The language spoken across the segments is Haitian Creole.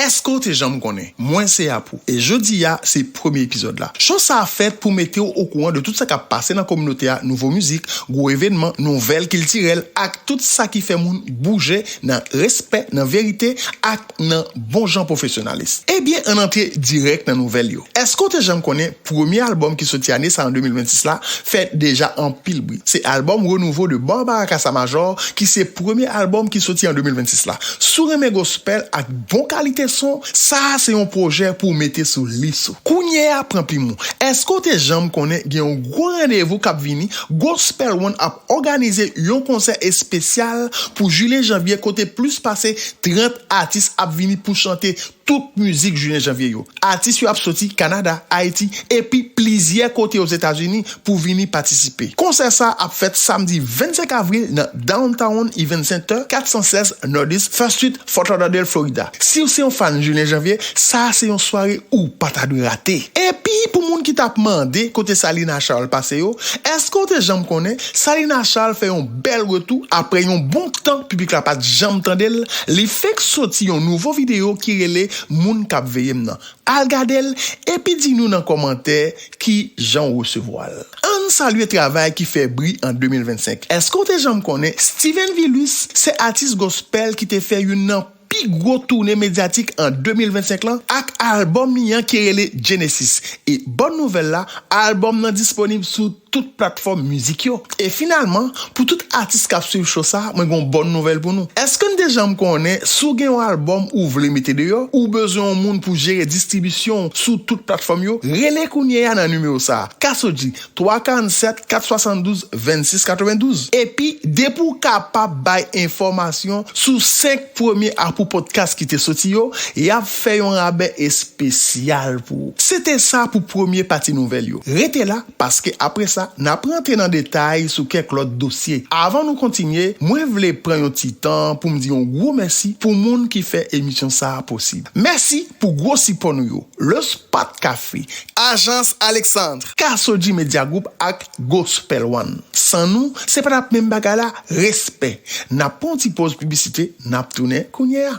Eske w te janm konnen? Mwen se Apou e jodi a se premye epizòd la. Show sa a fèt pou mete w okouran de tout sa k ap pase nan kominote a, nouvo mizik, gwo evenman, nouvèl kiltirèl ak tout sa ki fè moun bouje nan respè, nan verite ak nan bon jan pwofesyonalis. Ebyen ann antre dirèk nan nouvèl yo. Eske w te janm konnen? Premye albòm ki soti ane sa an 2026 la fè deja anpil bri. Se albòm Renouveau de Barbara Casamajor ki se premye albòm ki soti an 2026 la. Si w renmen gospel ak bon kalite son, sa a se yon pwojè pou w mete sou lis ou. Kounye a pran plim ou. Èske w te janm konnen gen yon gwo randevou k ap vini? Gospel One ap òganize yon konsè espesyal pou jilye-janvye kote plis pase 30 atis ap vini pou chante Tout mizik Julien Janvier yo, atis yo ap soti Kanada, Ayiti epi plizyè kote Ozetazini pou vini patisipe. Konsè sa a ap fèt samdi 25 avril nan Downtown Event Center, 416 Northeast First Street, Fort Lauderdale, Florida. Si w se yon fan Julien Janvier, sa a se yon sware ou pa ta dwe rate. Epi pou moun ki t ap mande kote Salina Charles pase yo, èske w te janm konnen Salina Charles fè yon bèl retou aprè yon bon tan piblik la pat janm tande l, li fenk soti yon nouvo video ki rele moun kap veye m nan, al gade l epi di nou nan kòmantè ki jan w resevwa l. Ann salye travay ki fè bri an 2025, èske w te janm konnen Steven Vilus se atis gospel ki te fè youn nan. pi gwo toune medyatik an 2025 lan ak albòm li an ki rele Genesis e bòn nouvèl la albòm nan disponib sou tout platfòm mizik yo e finalman pou tout atis kap swiv cho sa mwen gen yon bòn nouvèl pou nou eske n te janm konnen si w gen yon albòm ou vle mete deyò ou bezwen yon moun pou jere distribisyon w sou tout platfòm yo rele kounyeya nan nimewo sa Cassodji 347 472 26 92 epi depi w kapab bay enfòmasyon sou 5 premye apou pòdkas ki te soti yo y ap fè yon rabè espesyal pou ou se te sa pou premye pati nouvèl yo rete la paske apre sa n ap rantre nan detay sou kèk lòt dosye avan nou kontinye mwen vle pran yon ti tan pou m di yon gwo mèsi pou moun ki fè emisyon sa posib mèsi pou gwo sipò nou yo. Le Spot Café, Ajans Alexandre, Casoji Media Group ak Gospel One. San nou, se pa t ap menm bagay la, respè! N ap pran yon ti poz piblisite, n ap tounen kounye a.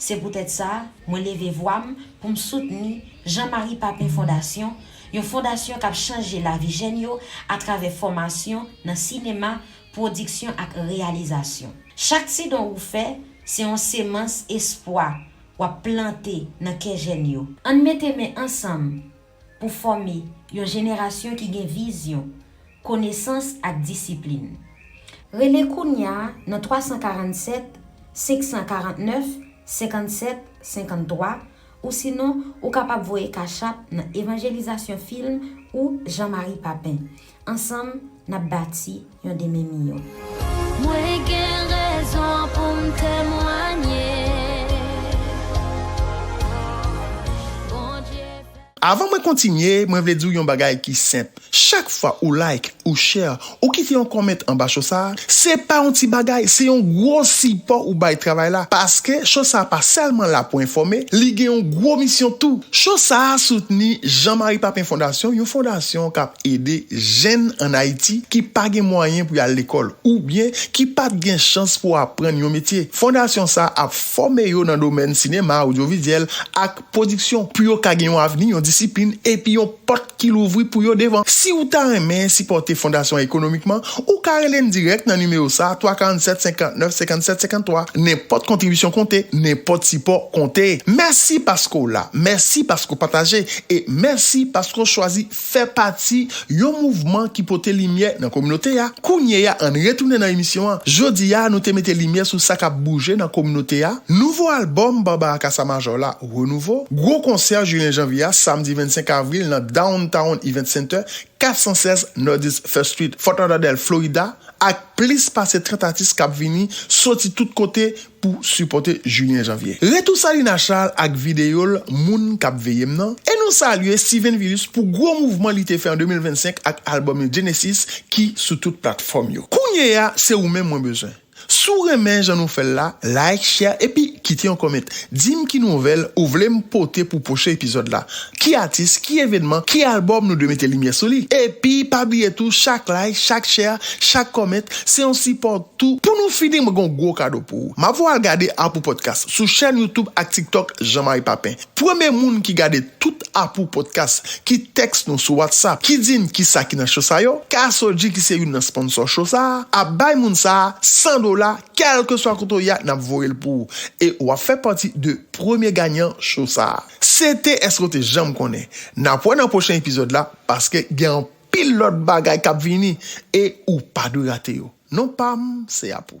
Se poutèt sa, mwen leve vwa m pou m soutni Jean Marie Papin Fondasyon, yon fondasyon k ap chanje lavi jèn yo atravè fòmasyon nan sinema, pwodiksyon ak reyalizasyon. Chak ti don ou fè, se yon semans espwa w ap plante nan kè jèn yo. Ann mete men ansanm Pou fòme yon jenerasyon ki gen vizyon, konesans ak disiplin. Rele kounya nan 347 549 57 53 ou sinon ou kapab voye cash app nan Evanjelisation Film ou Jean Marie Papin. Ansanm, n ap bati yon demen miyò. Mwen gen rezon pou m temwanye Bondye fè. Avan mwen kontinye, mwen vle di w yon bagay ki senp, chak fwa ou like, ou share, ou kite yon comment anba show sa, se pa yon ti bagay, se yon gwo sipò ou bay travay la, paske show sa pa sèlman la pou enfòme, li gen yon gwo misyon tou. Show sa soutni Jean Marie Papin Fondasyon, yon fondasyon k ap. Ede jèn ann Ayiti ki pa gen mwayen pou y al lekòl oubyen ki pa t gen chans pou aprann yon metye. Fondasyon sa a ap fòme yo nan domèn sinema, odyovizyèl ak pwodiksyon pou yo ka gen yon avni, yon disiplin epi yon pòt ki louvri pou yo devan. Si ou ta renmen sipòte Fondasyon an ekonomikman, ou ka rele n dirèk nan nimewo sa a, 347 59 57 53. Nenpòt kontribisyon konte, nenpòt sipò konte! Mèsi paske w la, mèsi paske w pataje e mèsi paske w chwazi fè pati yon mouvman ki pote limyè nan kominote a, kounyeya ann retounen nan emisyon an, jodiya nou te mete limyè sou sa kap bouje nan kominote a, nouvo album Barbara Cassa Major la Renouveau, gwo konsè Julien Janvier a samdi 25 avril nan Downtown Event Center 416 Northeast First Street, Fort Lauderdale, Florida, ak plis pase 30 atis kap vini soti tout kote pou sipòte Julien Janvier. Retou Salina Charles ak videyo l Moun k ap veye m nan e nou salye Steven Vilus pou gwo mouvman li te fè an 2025 ak albòm li Genesis ki sou tout platfòm yo. Kounyeya se ou menm mwen bezwen. Si w renmen jan nou fè l la, like, share epi kite yon comment. Di m ki nouvèl ou vle m pote pou pwochen epizòd la. Ki atis, ki evenman, ki album nou dwe mete limyè sou li? Epi pa bliye tou chak like, chak share, chak comment se yon sipò tou. Pou nou fini mwen gen yon gwo kado pou ou. Map voye w al gade Apou Podcast sou chèn YouTube ak TikTok Jean Marie Papin. Premye moun ki gade tout Apou Podcast ki text nou sou WhatsApp ki di n kisa ki nan show sa yo, Casoji ki se youn nan sponsor show sa a, ap bay moun sa a 100 dola kèlkeswa kote w ye a nap voye l pou ou e wap fè pati de premye ganyan show sa a. CT eske w te janm konnen? Nap wè nan pwochen epizòd la paske gen anpil lòt bagay kap vini e ou pa dwe rate yo non pam se a pou.